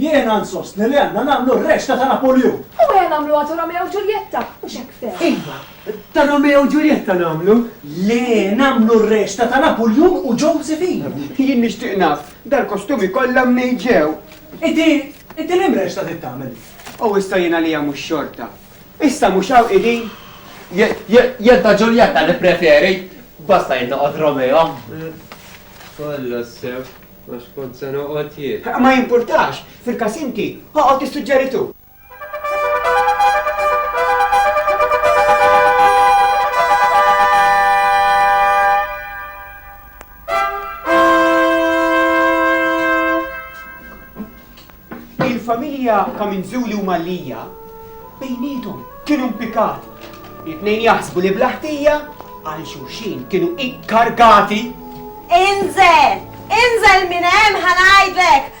Jiena nsostni li għandna nagħmlu r-rexta ta' Napoljun. U ejja nagħmluha ta' Romeo u Ġuljetta, mhux hekk ftehna? Iva, ta' Romeo u Ġuljetta nagħmlu. Le, nagħmlu r-rexta ta' Napoljun u Josephine. Jien nixtieq naf, dal-kostumi kollha mnejn ġew? Inti, inti l-imrex x'ta' trid tagħmel? O issa jien għalija mhux xorta. Issa mhux hawn qegħdin? Jien ta' Ġuljetta nippreferi, basta jien noqgħod Romeo. Kollha sew, għax kont se noqgħod jien. Ma jimpurtax, fil-każ inti, oqgħod issuġġeri tu. Il-familja ta' Minzuli u Mallija bejnietom kienu mpikati. It-tnejn jaħsbu li blaħtija għal xulxin kienu ikkargati. Inżel! Inżel minn hemm ħanajdlek!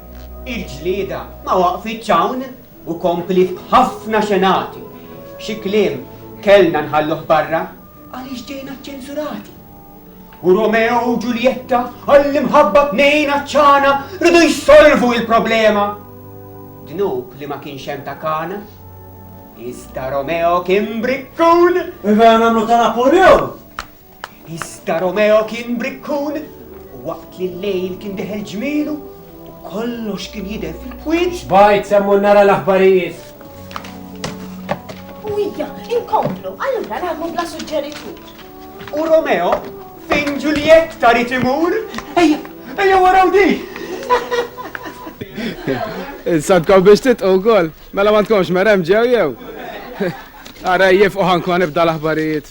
Il-ġlieda ma waqfitx hawn u kompliet b'ħafna xenati. Xi kliem kellna nħalluh barra għaliex ġejna ċċensurati. U Romeo u Ġuljetta għall-imħabba tnejn għatxana ridu jsolvu il-problema. Dnub li ma kienx hemm ta' kana, iżda Romeo kien brikkun! Iva nagħmlu ta' Napoleon! Iżda Romeo kien brikkun u waqt li l-lejl kien deħel ġmielu u kollox kien jidher fil-kwiet. Xbajt semmu nara l-aħbarijiet. U hija, inkomplu, allura nagħmlu bla suġġeritur. U Romeo, fejn Ġuljett tarit imur? Ejja, ejja waraw di! Insantkom biex titqu wkoll, mela ma tkomx merem ġew jew. Ara jifqu ħankun nibda l-aħbarijiet.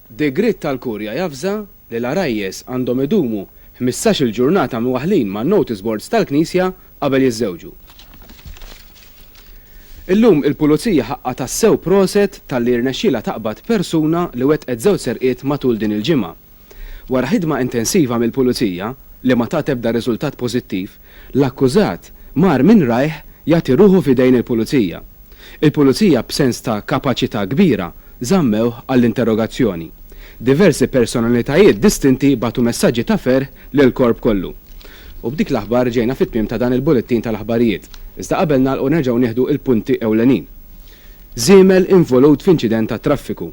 Degriet tal-Kurja javża li l-għarajjes għandhom idumu ħmistax-il ġurnata mwaħħlin man-notice boards tal-knisja qabel jiżżewġu. Illum il-Pulizija ħaqqha tassew proset talli rnexxielha taqbad persuna li wettqet żewġ serqiet matul din il-ġimgħa. Wara ħidma intensiva mill-Pulizija, li ma tat ebda riżultat pożittiv, L-akkużat mar minn rajh jagħti ruħu f'idejn il-Pulizija. Il-Pulizija b'sens ta' kapaċità kbira żammewh għall-interrogazzjoni. Diversi personalitajiet distinti bagħtu messaġġi ta' ferħ lill-Korp kollu. U b'dik l-aħbar ġejna fit-tmiem ta' dan il-bullettin tal-aħbarijiet. Iżda qabel nagħlqu nerġgħu nieħdu l-punti ewlenin. Żiemel involut f'inċident tat-traffiku.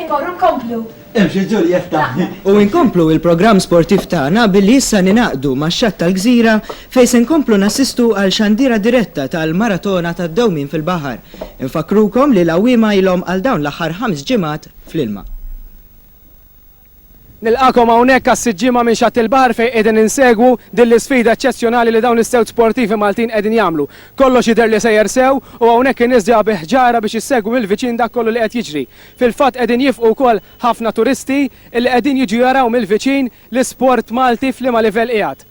Immorru nkomplu. Imxi Ġuljetta. U inkomplu il-programm sportiv tagħna billi issa ninaqdu max-xatt tal-gżira fejn se nkomplu nassistu għal xandira diretta tal-maratona tad-dewmien fil-baħar. Infakkrukom li l-għawwiema ilhom għal dawn l-aħħar ħams ġimgħat fl-ilma. Nilqagħkom hawnhekk għas-siġġiema minn Xatt il-Baħar fejn qegħdin insegwu din l-isfida eċċezzjonali li dawn is-sewt sportivi Maltin qegħdin jagħmlu. Kollox jidher li sejjer sew u hawnhekk in-nies ġejja bi ħġarha biex issegwu mill-viċin dak kollu li qed jiġri. Fil-fatt qegħdin jifqu wkoll ħafna turisti li qegħdin jiġu jaraw mill-viċin l-isport Malti f'liema livell qiegħed.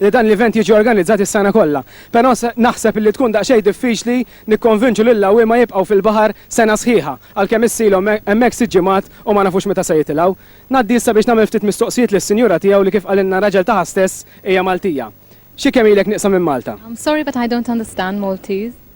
li dan l-event jiġi organizzat is-sena kollha. Però naħseb illi tkun daqsxejn diffiċli nikkonvinċu lill-għawwiema jibqgħu fil-baħar sena sħiħa, għalkemm issilhom hemmhekk sitt ġimgħat u ma nafux meta se jitilgħu. Ngħaddi issa biex nagħmel ftit mistoqsijiet lis-sinjura tiegħu li kif qalilna r-raġel tagħha stess hija Maltija. Xi kemm ilek nieqsa minn Malta? I'm sorry but I don't understand Maltese.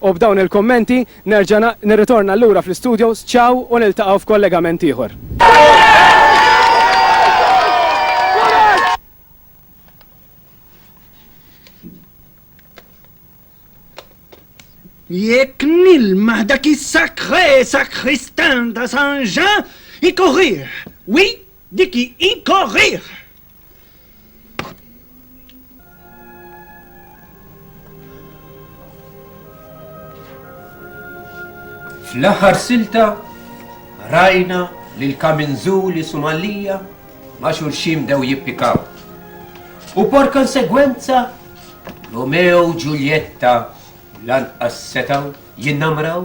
U b'dawn il-kummenti nerġa' nirritorna lura fl-istudios, ciao u niltaqgħu f'kollegament ieħor. Jekk nilmaħ dak is-sacré sacristain ta' San Jean, ikorrih! Oui, dik hi, ikorrih! Fl-aħħar silta rajna lil kaminżuli Sumalija ma' xulxin dew jippikaw. U por konsegwenza Romeo u Ġuljetta lanqas setaw jinnamraw.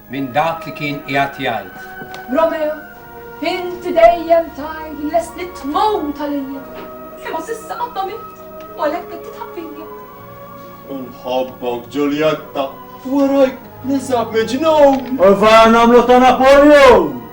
minn dak li kien qiegħed jgħid. Romeo, inti dejjem tgħid li lest li tmut għalija, imma s'issa qatt ma mitt u għalhekk qed titħab fija. Nħobbok, Ġuljetta, warajk ninsab miġnun! U vara nagħmlu ta' Napoleon!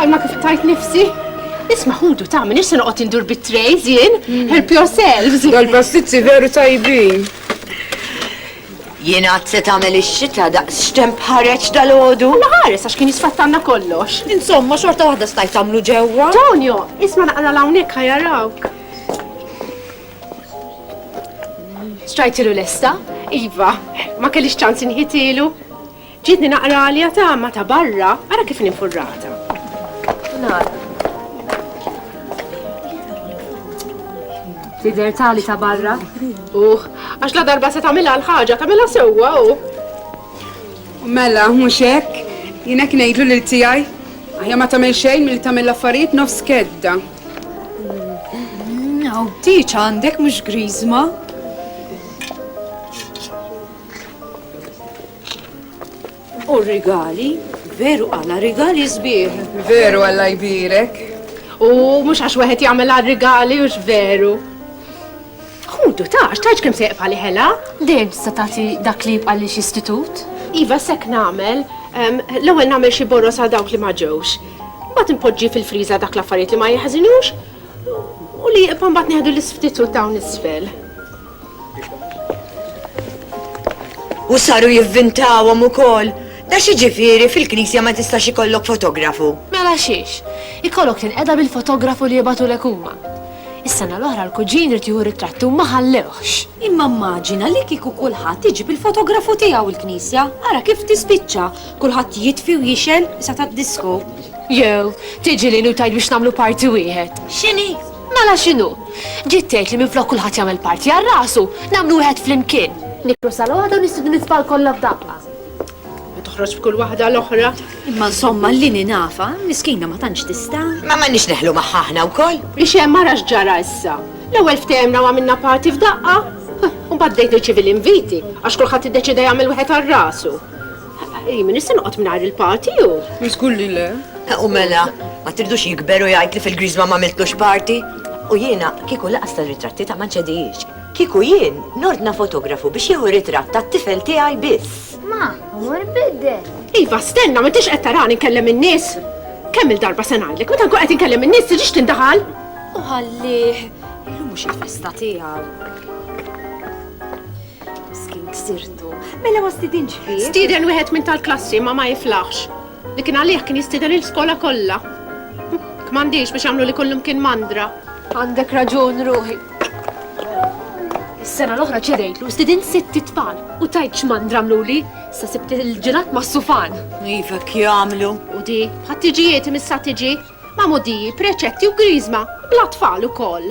Għalma kif tajt nifsi? Isma ħudu ta' minn issa noqgħod indur bit-trejz jien, mm. help yourselves. Dal-pastizzi veru tajbin. Jien għad se tagħmel ix-xita daqs xtemp ħareġ dal-għodu. Naħares għax kien jisfattanna kollox. Insomma, xorta waħda stajt tagħmlu ġewwa. Tonio, isma naqra l-hawnhekk ħajarawk. Strajtilu lesta? Iva, ma kellix ċans inħitilu. Ġietni naqra li għatama ta' barra, ara kif ninfurrata. Nara. Tider tali ta' barra? Uħ, għax la darba se tamila l-ħagġa, tamila sewwa u. Mela, mhux hekk, jiena kien ngħidlu lil tiegħi, aħja ma tagħmel xejn milli tagħmel l-affarijiet nofs kedda. Aw, tiċ għandek mhux griżma. U rigali, veru għala rigali sbieħ. Veru għalla jbirek. U mhux għax wieħed jagħmel għal rigali u veru. Ħudu tax, tax kemm se jqfa' li ħela? Le, se tagħti dak li jibqa' li istitut? Iva, sek nagħmel, L-ewwel nagħmel xi boros għal dawk li ma ġewx. Mbagħad inpoġġi fil-friża dak l-affarijiet li ma jeħżinux u li jibqa' mbagħad nieħdu l-isftit u dawn isfel. U saru jivvintawhom ukoll. Da xi ġifieri fil-knisja ma tistax ikollok fotografu. Mela xiex, ikollok tinqeda bil-fotografu li jibgħatulek huma. Is-sena l-oħra l-kuġin irid jieħu ritratti u ma ħallewhx. Imma mmaġina li kieku kulħadd iġib il-fotografu tiegħu l-knisja, ara kif tispiċċa. Kulħadd jitfi u jixgħel sa tad-disko. Jew, tiġi lili u tgħid biex nagħmlu parti wieħed. X'inhi? Mela x'inhu? Ġiet tgħid li minflok kulħadd jagħmel parti għal rasu, nagħmlu wieħed flimkien. Nikru sal-għodu nistidnu nitfal kollha f'daqqa. Ma toħroġ b'kull waħda l-oħra. Imma insomma li ninafa, miskina ma tantx tista'. Ma m'għandniex neħlu magħha aħna wkoll. Biex hemm ara x'ġara issa. L-ewwel ftehemna u għamilna parti f'daqqa. U baddejt nirċivi l-inviti, għax kulħadd iddeċida jagħmel wieħed għal rasu. Jien nista' noqgħod mingħajr il-party u. Żgur li le. U mela, ma tirdux jikber u jgħid li fil-griż ma m'għamiltlux party. U jiena kieku laqas tal-ritratti ta' ma nċedijiex. Kieku jien nordna fotografu biex jieħu ritratt tat-tifel tiegħi biss. Ma, mur biddel. Iva, stenna, ma tix qed tarani nkellem in-nies. Kemm il-darba se ngħidlek, meta nkun qed inkellem in-nies tiġix tindaħal. U ħallih, illum mhux il-festa tiegħu. Miskin ksirtu. Mela ma stidinx fih. Stieden wieħed minn tal-klassi ma ma jiflaħx. Li kien għalih kien jistieden il-skola kollha. Kmandix biex jagħmlu li kullum kien mandra. Għandek raġun ruħi. Is-sena l-oħra ċedejtlu stidin sitt tfal u tajt x'man dramluli sa sibt il-ġilat ma' sufan. Iva kjamlu. U di, ħattiġijiet imissa tiġi, ma' modiji, preċetti u grizma, bla tfal u koll.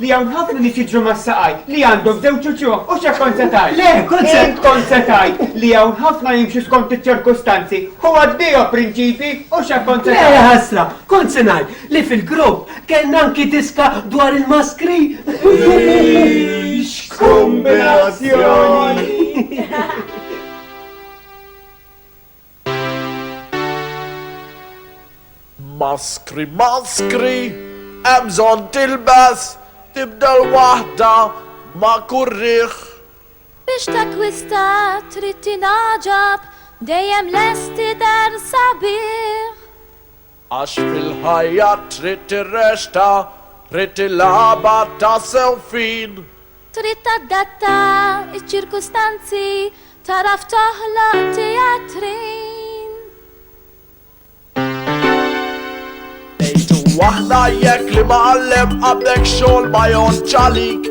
Li hawn ħafna nies jiġru mas-saqajt, li għandhom żewġ uċuħ, u x'hekk kont se tgħid? Le, kont se. Int kont se tgħid li hawn ħafna jimxu skont iċ-ċirkustanzi, u għaddihom prinċipji, u x'hekk kont se tgħid? Le, ħasra, kont se ngħid li fil-grupp kellna anki diska dwar il-maskri. X'kumbinazzjoni! Maskri, maskri, hemm bżonn tilbes, tibdel waħda ma' kull riħ. Biex takkwista trid tingħaġab, dejjem lest tidher sabiħ. Għax fil-ħajja trid tirresta, trid tilgħabha tassew fin. Trid tadatta ċ-ċirkustanzi, tagħraf toħloq tijatrin. Ngħidu aħna jekk li mgħallem għandek xogħol ma jgħoddx għalik.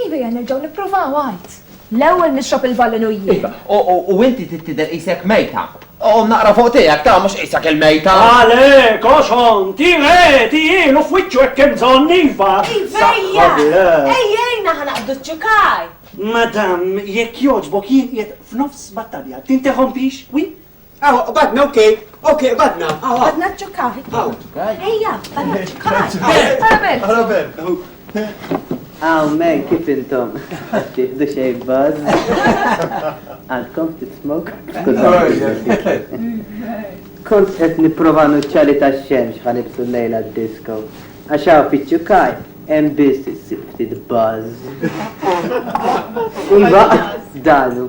Iva, ejja nerġgħu nippruvaw għid. L-ewwel nixrob il-valin u jien. Iva, u inti trid tidher qisek mejta. Qum naqra fuq tiegħek, ta, mhux qisek il-mejta! Ale, koxon, ti re, ti il u f'wiċċu hekk hemm bżonn, iva! Iva, ejja! Ejja, ejna ħa naqbdu ċ-ċukaj! Madam, jekk jogħġbok jien qiegħed f'nofs battalja, tinterrompix, wi? Aw, qbadna, ok, ok, qbadna. Qbadna ċċukkah. Aw. Ejja, qbadna ċċukkah. Arabel. Arabel. Aw, men, kif intom? Tieħdu xej buzz? Għandkom tismok? Kont qed nipprova nuċċali ta' xemx ħanibsu l-lejla d-disco. Għax hawn fiċ-ċukaj hemm biss issib ftit buzz. Iva, dalu.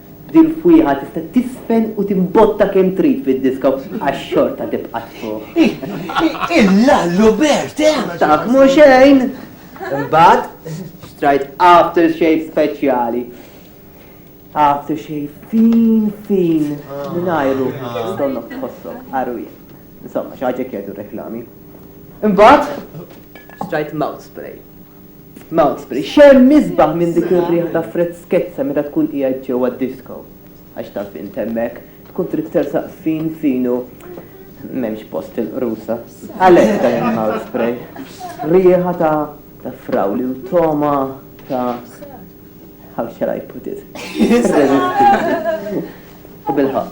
Din l-fwieħa tista' tiżfen u timbotta kemm trid fid-diska u għax xorta tibqa' tfugħ. Il-lallu bert, eh? Taf m'hu xejn! Imbagħad xtrajt aftershave speċjali. Aftershave fin fin mingħajru donnok tħossok qarwien. Insomma, xi ħaġa kietu reklami. Imbagħad xtrajt mouth spray. Malmesbury, x'hemm isbaħ minn dik ir-riħa ta' freskezza meta tkun qiegħed ġewwa d-disko? Għax taf int hemmhekk, tkun trid tersaq fin fin u m'hemmx post il-qrusa. Għalhekk dan il-mouth spray. Riħa ta' frawli u togħma ta' how shall I put it? irreżistibbli. U bilħaqq.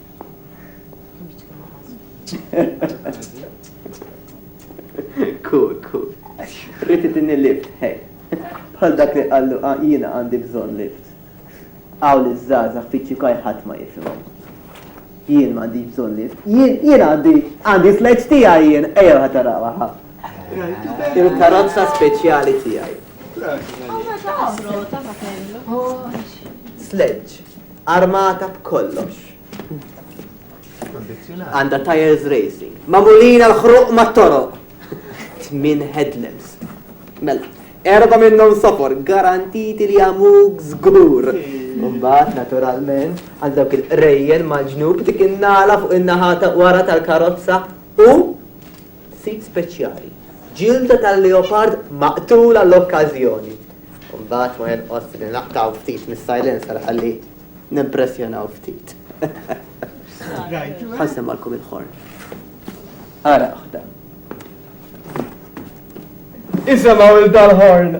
Cool, cool. Rrit titini lift, hej. Bħal dak li qallu ah, jiena għandi bżonn lift. Għaw li żgħażagħ fiċċi kaj ħadd ma jifhimhom. Jien ma għandi bżonn lift. Jien jien għandi għandi sleġġ tiegħi jien ejjew ħatarawa ħa. Il-karozza speċjali tiegħi. Sleġġ. Armata b'kollox. Għandha tires racing. Magħmulin għal ħruq mat-toroq. Tmin headlamps. Mela, erba minnhom sofor, garantiti li għamuk żgur. Mbagħad naturalment għal dawk il-qrejjen mal-ġnub dik in-nala fuq in-naħa wara tal-karozza u Sit speċjali, ġilda tal-leopard maqtul għall-okkażjoni. U mbagħad ma jonqos li naqtgħu ftit mis-silencer ħalli nimpressjonaw ftit. Ħa nsemmgħalkom il-ħorn. Ara oħda. Isemgħu il dal-ħorn.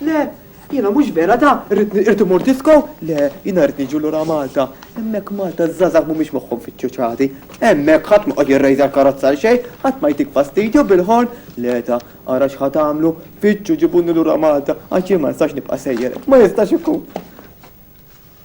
Le, jiena mhux vera da, irrid imur disko, le, jiena rrid niġu lura Malta. Hemmhekk Malta ż-żgħażagħ mhumiex moħħhom fiċ-ċuċati. Hemmhekk ħadd m'qgħod jirrejża l-karozza għal xejn, ħadd ma jtik fastidju bil-ħorn. Le da, ara x'ħa tagħmlu, fittxu ġibuni lura Malta għax jien ma nistax nibqa' sejjer hekk, ma jistax ikun.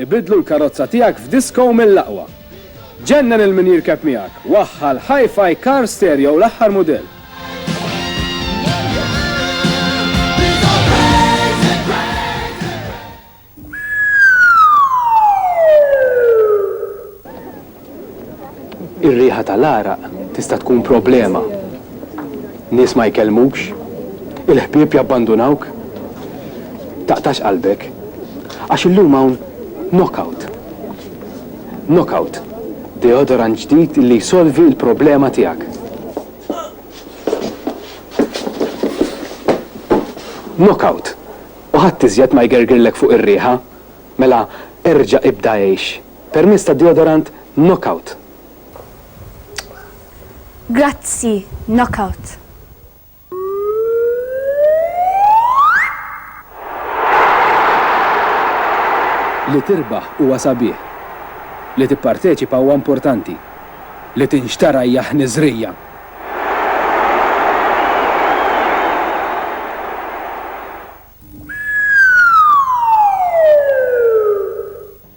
Ibiddlu l-karozza tiegħek f'disko mill-aqwa! Ġennen 'il min jirkeb miegħek! Waħħal hi-fi car stereo l-aħħar mudell! Ir-riħa tal-għaraq tista' tkun problema. Nies ma jkellmukx. Il-ħbieb jabbandunawk. Taqtax qalbek. Għax illum hawn Knockout. Knockout, deodorant ġdid li jsolvi l-problema tiegħek. Knockout, u ħadd iżjed ma jgergirlek fuq ir-riħa. Mela erġa' ibda għix. Permezz tad-deodorant Knockout. Grazzi, Knockout. Li tirbaħ huwa sabiħ. Li tipparteċipa huwa importanti. Li tinxtara hija ħniżrija.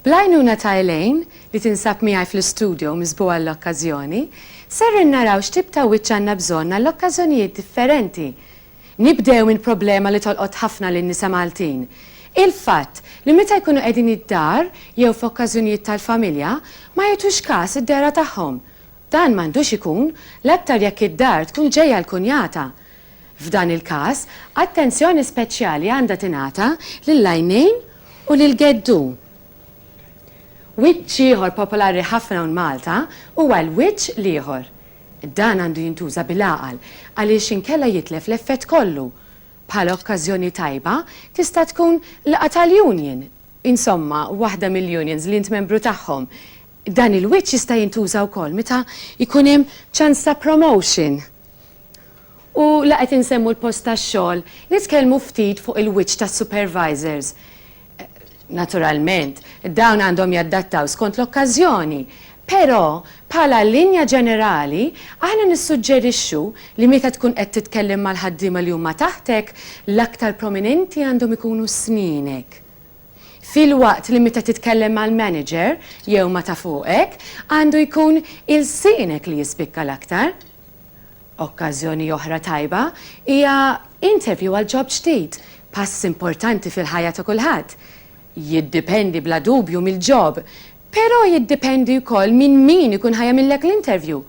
Bl-għajnuna ta' Elaine, li tinsab miegħi fl-istudio miżbugħa għall-okkażjoni, ser innaraw x'tip ta' wiċċ għandna bżonn għall-okkażjonijiet differenti. Nibdew minn problema li tolqot ħafna lin-nisa Maltin, il-fatt li meta jkunu qegħdin id-dar jew f'okkażjonijiet tal-familja ma jgħtux kas id-dehra tagħhom. Dan m'għandux ikun, l-aktar jekk id-dar tkun ġejja l-kunjata. F'dan il-każ, attenzjoni speċjali għandha tingħata lill-għajnejn u lill-geddu. Wiċċ ieħor popolari ħafna hawn Malta huwa l-wiċċ l-ieħor. Dan għandu jintuża bil-għaqal għaliex inkella jitlef l-effett kollu. Bħala okkażjoni tajba tista' tkun laqgħa tal-union, insomma, waħda mill-unions li int membru tagħhom. Dan il-wiċċ jista' jintuża wkoll meta jkun hemm ċans ta' promotion. U la qed insemmu l-post tax-xogħol, nitkellmu ftit fuq il-wiċċ tas-supervisors. Naturalment, dawn għandhom jaddattaw skont l-okkażjoni, però bħala linja ġenerali aħna nissuġġerixxu li meta tkun qed titkellem mal-ħaddiema li huma taħtek, l-aktar prominenti għandhom ikunu snienek. filwaqt li meta titkellem mal-manager jew ma' ta' fuqek għandu jkun ilsienek li jispikka l-aktar. Okkażjoni oħra tajba hija interview għal ġob ġdid, pass importanti fil-ħajja ta' kulħadd. Jiddipendi bla dubju mill-ġob, però jiddipendi wkoll minn min ikun ħa jagħmillek l-interview.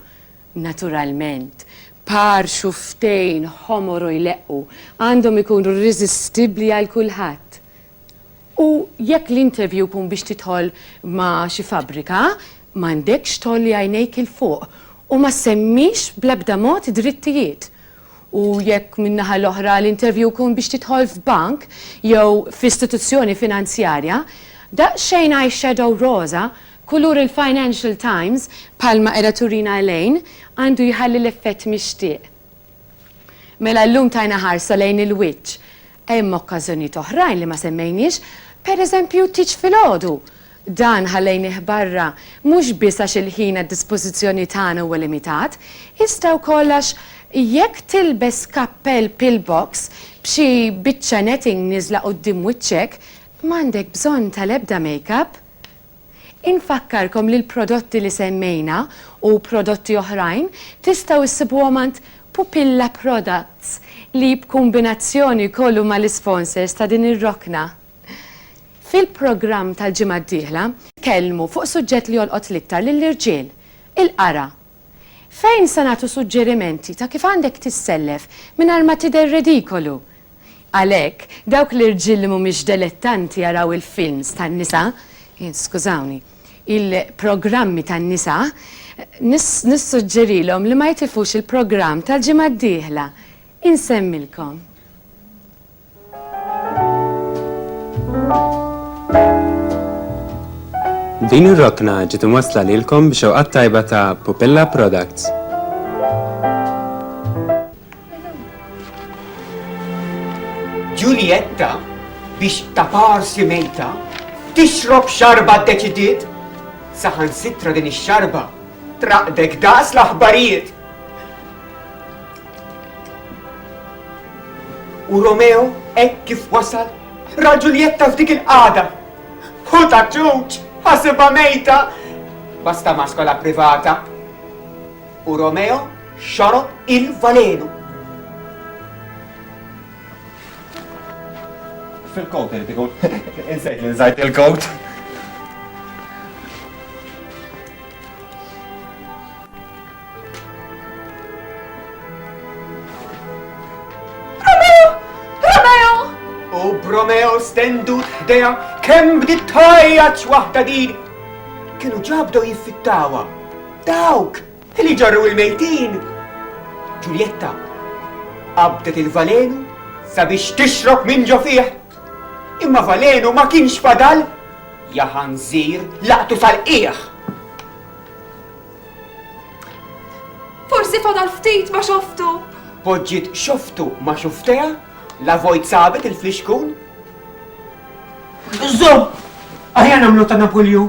Naturalment, par xufftejn ħomor u jleqqu għandhom ikunu rriżistibbli għal kulħadd. U jekk l-interview jkun biex tidħol ma' xi fabbrika, m'għandekx tgħolli għajnejk 'il fuq u ma ssemmix bl-ebda mod drittijiet. U jekk min-naħa l-oħra l-interview jkun biex tidħol f'bank jew f'istituzzjoni finanzjarja, daqsxejn eye shadow roża kulur il-Financial Times bħalma qiegħda turina Elaine għandu jħalli l-effett mixtieq. Mela llum tajna ħarsa lejn il-wiċċ. Hemm okkażjonijiet oħrajn li ma semmejniex, pereżempju t-tieġ filgħodu. Dan ħallejnieh barra mhux biss għax il-ħin għad-dispożizzjoni tagħna huwa limitat, iżda wkoll għax jekk tilbes kappell pillbox b'xi biċċa netting nieżla quddiem wiċċek, m'għandek bżonn tal-ebda makeup. Infakkarkom li l-prodotti li semmejna u prodotti oħrajn tistgħu issibuhom għand Pupilla Products li b'kumbinazzjoni jkollu mal-isponsors ta' din ir-rokna. Fil-programm tal-ġimgħa d-dieħla, nitkellmu fuq suġġett li jolqot l-iktar lill-irġiel, il-qara. Fejn se nagħtu suġġerimenti ta' kif għandek tissellef mingħajr ma tidher redikolu. Għalhekk, dawk l-irġiel li mhumiex delettanti jaraw il-films tan-nisa, skużawni, il-programmi tan-nisa, nissuġġerilhom li ma jitilfux il-programm tal-ġimgħa d-dieħla. Insemmilkom. Din ir-rokna ġiet imwassla lilkom b'xewqat tajba ta' Pupilla Products. Ġuljetta biex ta' parsi mejta tixrob xarba ddeċidiet saħan sitra din ix-xarba traqdek daqs l-aħbarijiet. U Romeo hekk kif wasal ra Ġuljetta f'dik il-qada. U ta' ċuċ, ħasibha mejta, basta ma' skola privata. U Romeo Xorob il-valenu. Fil-kowt irid ikun. Insejt li nżajt il-kowt. Romeo stendut ħdeja kemm bdiet tajjaċ waħda din. Kienu ġabdew jiffittawa. Dawk! Li jġorru l-mejtin! Ġuljetta qabdet il-valenu sabiex tixrob minn ġo fih. Imma valenu ma kienx fadal! Ja ħanżir laqtu sal-qiegħ! Forsi fadal ftit ma xoftu! Poġġiet xoftu ma xufteha, la vojt sabet il-flixkun. Żomm! Aħjar nagħmlu ta' Napulju!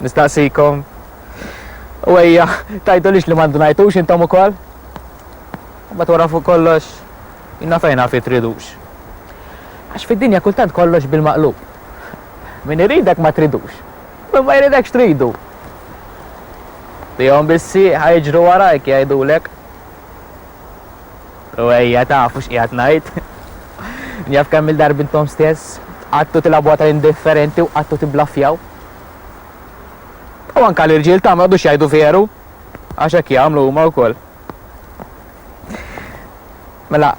Nistaqsikom. U ejja, tajdu lix li mandu najtux intom u koll. Bat wara fuq kollox, jina fejna fi tridux. Għax fid-dinja kultant kollox bil-maqlub. Min iridek ma tridux. Min ma jridek xtridu. Tijom bissi ħajġru warajk jajdulek. U ejja, tafu x'qiegħed ngħid? Jaf kemm-il darba intom stess qgħadtu tilgħabuha tal-indifferenti u qgħadtu tibblaffjaw? U anke l-irġiel tagħna ma jqogħdux jgħidu veru, għax hekk jagħmlu huma wkoll. Mela,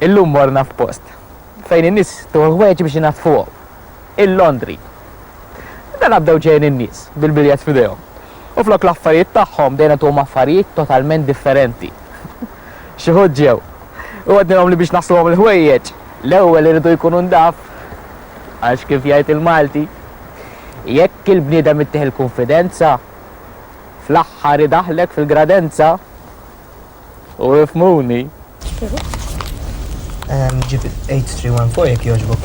illum morna f'post fejn in-nies tuħu ħwejjeġ biex inaddfuhom. il-laundry. Dana bdew ġejjin in-nies bil-biljett f'idejhom. U flok l-affarijiet tagħhom bdejna ntuhom affarijiet totalment differenti. Xi wħud ġew. U għednilhom li biex nasluhom il-ħwejjeġ, l-ewwel iridu jkunu ndaf. Għax kif jgħid il-Malti, jekk il-bniedem ittih il-kunfidenza, fl-aħħar idaħħlek fil-gradenza. U ifmuni. Ġib 8314 jek joġbok.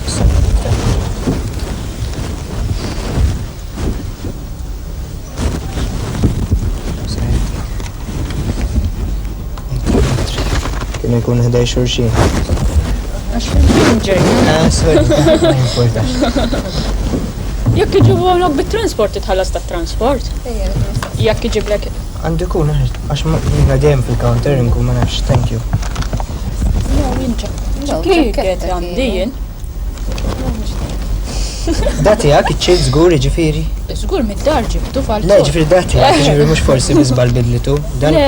Kien ikun ħdej xurxin. Jekk iġibu għamlok bit-transport, titħallas ta' transport. Jekk iġiblek Għandu jkun għax jiena dejjem fil-counter inkun ma nafx, thank you. Ġikiet għandi jien. Dati għak iċċil zgur ġifiri? Zgur mid-dar ġibtu fal Le, ġifiri dati għak ġifiri mux forsi bizbal bidlitu. Le, le,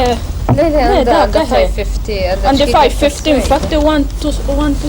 le, le, da, 550. Għandi 550, infatti 1 to 1 to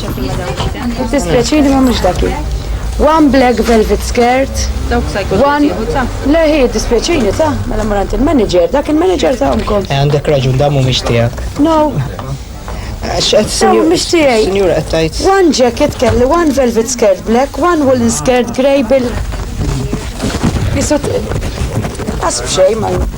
Dispjaċini ma mhux dak One black velvet skirt. Dawk sa jkun ta'. Le hi dispjaċini ta' mela morant il-manager, dak il-manager ta' omkom. Eh, għandek raġun da mhumiex tiegħek. No. Dawn mhux tiegħi. Sinjura qed tgħid. One jacket kelli, one velvet skirt black, one woolen skirt grey bil. Jisut. Asb xejn ma.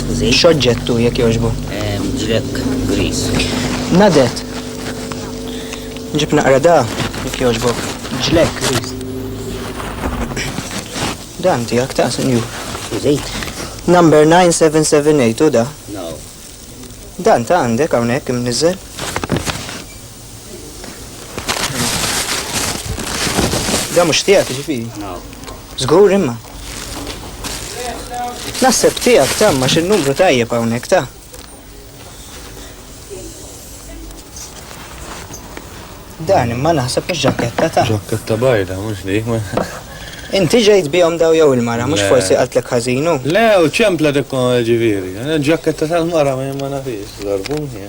Skużi? X'oġġettu jekk jogħġbu? Ġrek griż. Nadet. Ġib naqra da jekk jogħġbu. Ġlek griż. Dan tiegħek ta' senju. Skużi? Number 9778 u da. No. Dan ta' għandek hawnhekk imniżel. Da mux tijak ġifiri? Zgur imma. Nasib tijak ta' ma xin numru tajjeb għawnek ta' Dan imma naħseb mhux ġaketta ta' Ġaketta bajda, mhux li. Inti ġejt bihom daw jew il-mara, mhux forsi qaltlek ħażinu? Le, u ċempla dik ġifieri. Ġaketta tal-mara ma nafix, darbuni.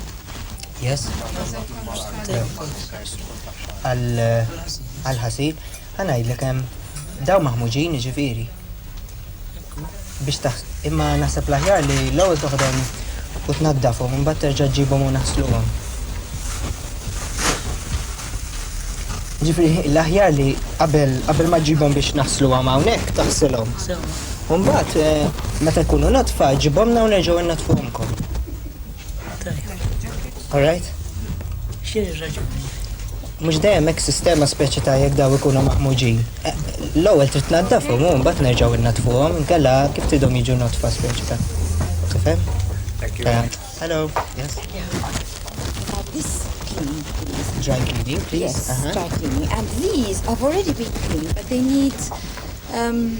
Yes. Għal-ħasil, għanajdlek hemm daw maħmuġin ġifiri. Biex taħ, imma naħseb laħjar li l-ewwel toħdem u tnaddafhom, imbagħad terġa' ġibhom u naħsluhom. Ġifiri, l-aħjar li qabel qabel ma ġibhom biex naħslu għam hawnhekk taħsilhom. Mbagħad eh, meta jkunu natfa ġibhom hawn nerġgħu nnatfuhomkom. All right? X'inhi raġuni? Mhux dejjem hekk sistema speċi ta' jekk daw ikunu maħmuġin. Eh, l-ewwel trid tnaddafhom u mbagħad nerġgħu innadfuhom, inkella kif tidhom jiġu notfa speċi ta'. Tifhem? Hello. Yes. This clean, please. Dry cleaning, please. Yes, uh -huh. dry cleaning. And these have already been cleaned, but they need um,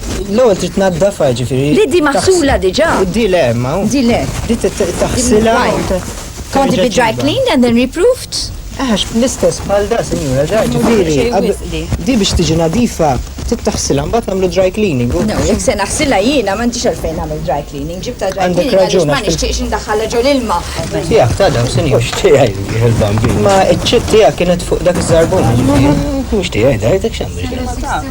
L-ewwel trid tnaddafha ġifieri. Li di maħsula diġà. Di le ma. Di le. Di taħsilha. Kondi bi dry clean and then reproved? Għax l-istess bħal da, sinjura, da ġifieri. Di biex tiġi nadifa, tittaħsilha mbagħad nagħmlu dry cleaning. No, jekk se naħsilha jiena m'għandix għalfejn nagħmel dry cleaning. Ġibta dry cleaning għaliex ma nixtieqx indaħħalha ġol ilma. Tiegħek ta' dawn sinjur. Tiegħi il-bambin. Ma ċ-ċitt tiegħek kienet fuq dak iż-żarbun. Mhux tiegħi, dajtek x'għandek.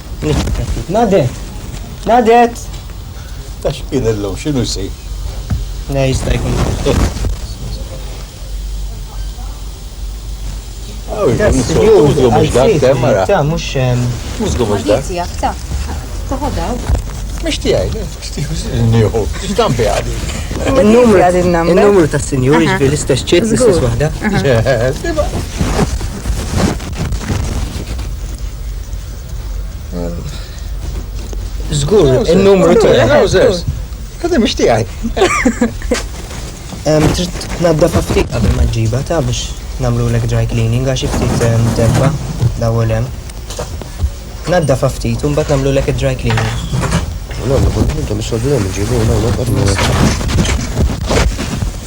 Nadet! Nadet! Ta' xkien illum, xinu jsir? Ne, jista' jkun. Il-numru ta' sinjuri ġbi l-istess ċit, l-istess wahda. Zgur, il-numru ta' trousers. Għadda biex tiegħi. Trid tnaddaf ftit qabel ma ġiba ta' biex namlu l dry cleaning għax ftit debba l-ewwel hemm. Naddaf ftit u mbagħad namlu l dry cleaning. Nagħmlu kull ħaġa mis-soddu hemm ġibu nagħmlu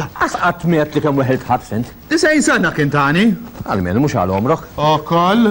Laqqas qatt miet li kemm weħilt ħadd fint. Tisgħin sena kien tani. Għalmenu mhux għal omrok. Okol.